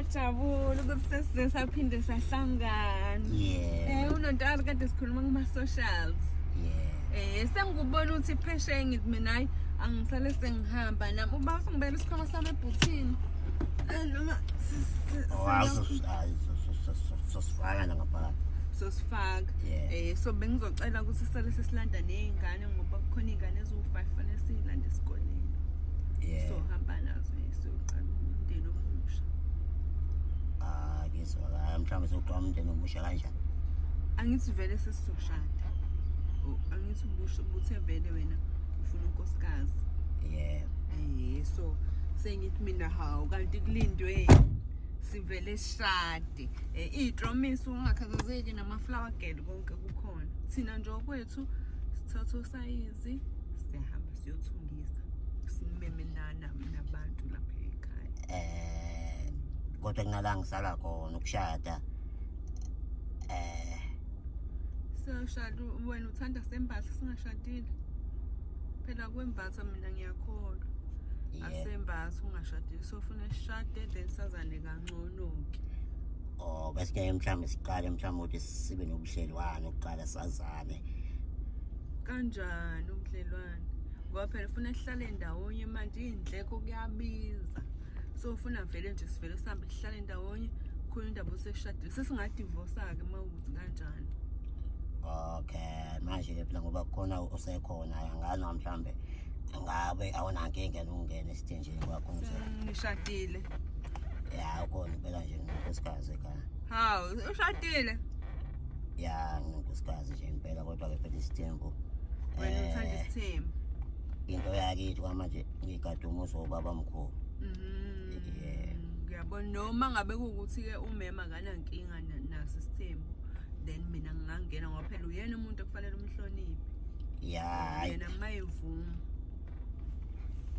ngajabula ukuthi sesize saphinde sahlangana eh unontalo kade sikhuluma kuma socials eh sengikubona ukuthi phesheya ngithi mina hayi angisale sengihamba nami uba usingibela isikhwama sami ebhuthini eh, noma sosifaka la ngaphakathi sosifaka eh so bengizocela ukuthi sisale sesilanda nezingane ngoba kukhona iy'ngane eziwu-five fanele siyilande esikoleni so hamba nazo siyoqala umndeni omusha ah ngizwakala mhlawumbe sokuqala umndeni omusha kanjani angithi vele sesizoshada angithi ubuthe vele wena ufuna unkosikazi yeah eh so sengithi mina hawu kanti kulindwe sivele sishade eh, iyitromisi ungakhathazeki namaflower girl konke kukhona thina nje okwethu Two, sithatha usayizi siyahamba siyothungisa simeme nana mina abantu lapha ekhaya eh kodwa kunala ngisala khona ukushada eh sashada wena uthanda sembatha singashadile phela kwembatha mina ngiyakholwa asembatha ungashadile sofuna sishade then sazane kangcono ke or besike mhlawumbe siqale mhlawumbe ukuthi sibe nobudlelwane ukuqala sazane kanjani ubudlelwane ngoba phela ufuna sihlale ndawonye manje iy'ndleko kuyabiza so ufuna vele nje sivele sihambe sihlale ndawonye khona indaba oseshadile sesingadivosa-ke uma ukuthi kanjani okay manje ke phela ngoba khona usekhona angani mhlawumbe ngabe awunankinga nokungena esithini ngishadile ya ukhona impela nje nginkosikazi ekhaya hawu ushadile ya nginkosikazi nje impela kodwa-ke phela isithembu wena eh, uthanda isithembu into yakithi kwamanje ngigade umuzi wobaba mkhulu mhm. ngiyabona noma ngabe kuwukuthi-ke umema akanankinga naso isithembu then mina ngingangena ngoba phela uyena umuntu okufanele umhloniphe ya yena mayevuma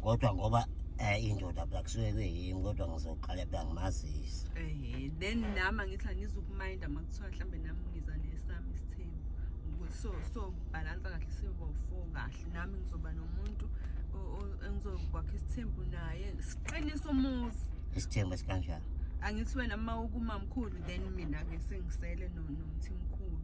kodwa ngoba eh indoda phela kusuke kuyimi kodwa ngizoqala phela ngimazisa eh then nami angithi angizukuminda makuthiwa mhlambe nami ngiza nesami isithembu so so balance kahle sibo four kahle nami ngizoba nomuntu engizokwakha isithembu naye siqinisa umuzi isithembu esikanjani angithi wena uma ukumamkhulu then mina-ke sengisele nomthi mkhulu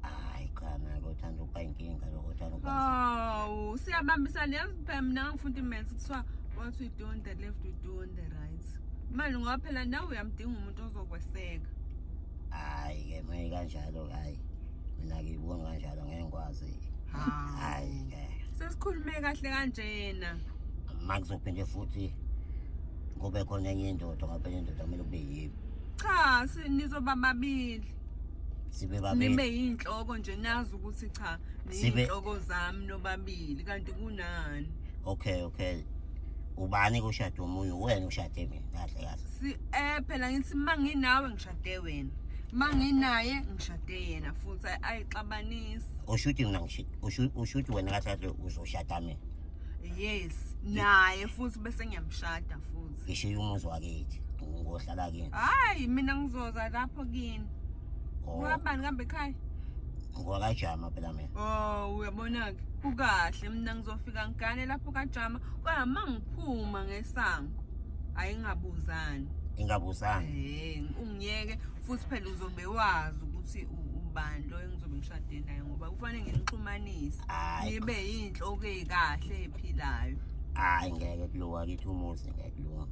hayi cha nake uthanda ukuba inkinga lokho uthanda ukuba hawu siyabambisana yazi phela mina ngangifunda imensi kuthiwa what we do on the left we do on the right manje ngoba phela nawe uyamdinga umuntu ozokweseka hayi ke maye kanjalo ke hayi mina ngiyibona kanjalo ngeke ngikwazi hayi ke sesikhulume kahle kanjena makuzophinde futhi kube khona enye indoda ngaphela indoda kumele kube yimi cha nizoba babili sibe babili nibe yinhloko nje nazi ukuthi cha niyinhloko zami nobabili kanti kunani okay okay ubani kushade umuntu wena ushade mina kahle kahle si eh phela ngithi manginawe ngishade wena manginaye ngishade yena futhi ayixabanisi ushuthi mina ngishade ushuthi wena kahle uzoshada mina yes naye futhi bese ngiyamshada futhi ngishiye umuzi wakithi ngohlala kini hayi mina ngizoza lapho kini oh. ngabani kambe ekhaya ngwakajama phela mina oh uyabona-ke kukahle mina ngizofika ngigane lapho kajama kodwa ma ngiphuma ngesango hhayi ngingabuzani ingabuzani eh, ungiyeke futhi phela uzobe wazi ukuthi ubani lo engizobe ngishade naye ngoba kufanele nginixhumanise nibe yinhloko eyikahle ephilayo hayi ngeke kulowa kithi umuzi ngeke kulunga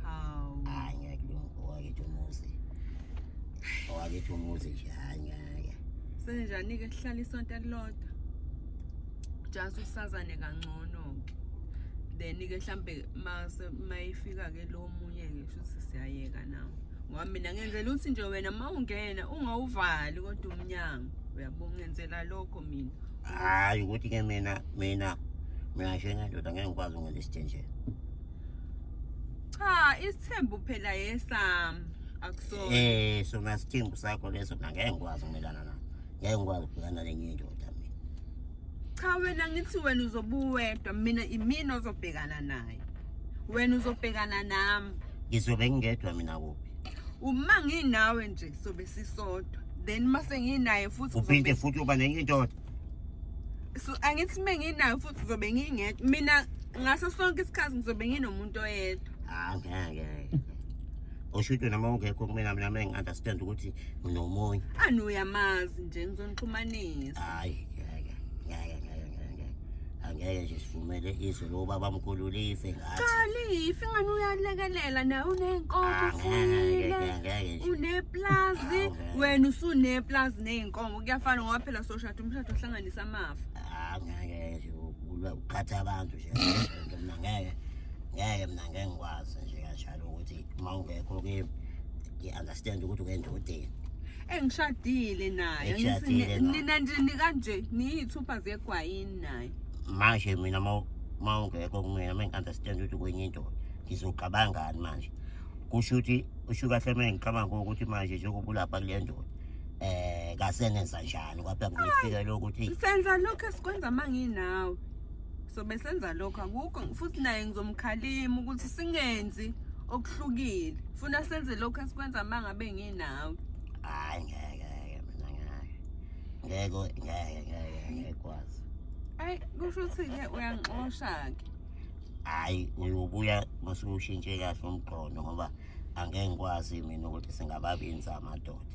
hawu hayi ngeke kulunga owakithi umuzi owakithi umuzi nje hayi ngeke senjani-ke sihlala isonto elilodwa just usazane kangcono-ke then-ke mhlawumbe mayifika-ke lo munye-ke shuthi siyayeka nawo ngoba mina ngenzela ukuthi nje wena uma ungena ungawuvali kodwa umnyango uyabongenzela lokho mina hayi ukuthi ke mina mina mina njengendoda ngeke ngikwazi ukungena esithenjeni cha isithembu phela yesam akusona eh sona sithembu sakho leso mina ngeke ngikwazi ukumelana naso ngeke ngikwazi ukubhekana lenye indoda mina cha wena ngithi wena uzobuwedwa mina imina ozobhekana naye wena uzobhekana nami ngizobe ngingedwa mina kuphi uma nginawe nje sobe sisodwa then mase nginaye futhi uphinde futhi uba nenye indoda so angithi uma nginayo futhi ngizobe ngingedwa mina ngaso sonke isikhathi ngizobe nginomuntu oyedwa ah, ngeke usho ukuthi noma ungekho kumina mina mina ngi-understand ukuthi nginomunye ani uyamazi nje ngizonixhumanisa hayi ngeke ngeke ngeke angeke nje sivumele izwe lobaba mkhulu life ngathi kalifi ngani uyalekelela naye uney'nkomo Ah, ngeke, ufuyile ngeke, ngeke nje. uneplazi Ah, ngeke. wena usuneplazi ney'nkomo kuyafana ngoba phela soshada umshado ohlanganisa amafa Ah, ngeke nje ukulwa ukukhatha abantu nje lento mina ngeke ngeke mina ngeke ngikwazi nje kanjalo ukuthi uma ungekho kimi ngi-understand ukuthi ungendodeni engishadile nayo Eshadile nayo. nina ndini kanje niyithupha zegwayini nayo manje mina ma- ma ungekho kumina ma ngi-understand ukuthi kwenye indoda ngizogabangani manje kusho ukuthi usho kahle ma ngicabanga ukuthi manje njengoba ulapha kule ndoda um kasenenza njani kwaphela ngizokufikela ukuthi senza lokho esikwenza uma nginawe sobe senza lokho akukho futhi naye ngizomkhalima ukuthi singenzi okuhlukile funa senze lokho esikwenza uma ngabe ngi nawe hayi ngeke ngeke mina ngeke ngeke ngeke ngeke ngeke kwazi hayi kusho ukuthi ke uyangixosha ke hayi uyobuya masukushintshe kahle umqondo ngoba angeke ngikwazi mina ukuthi singababinza amadoda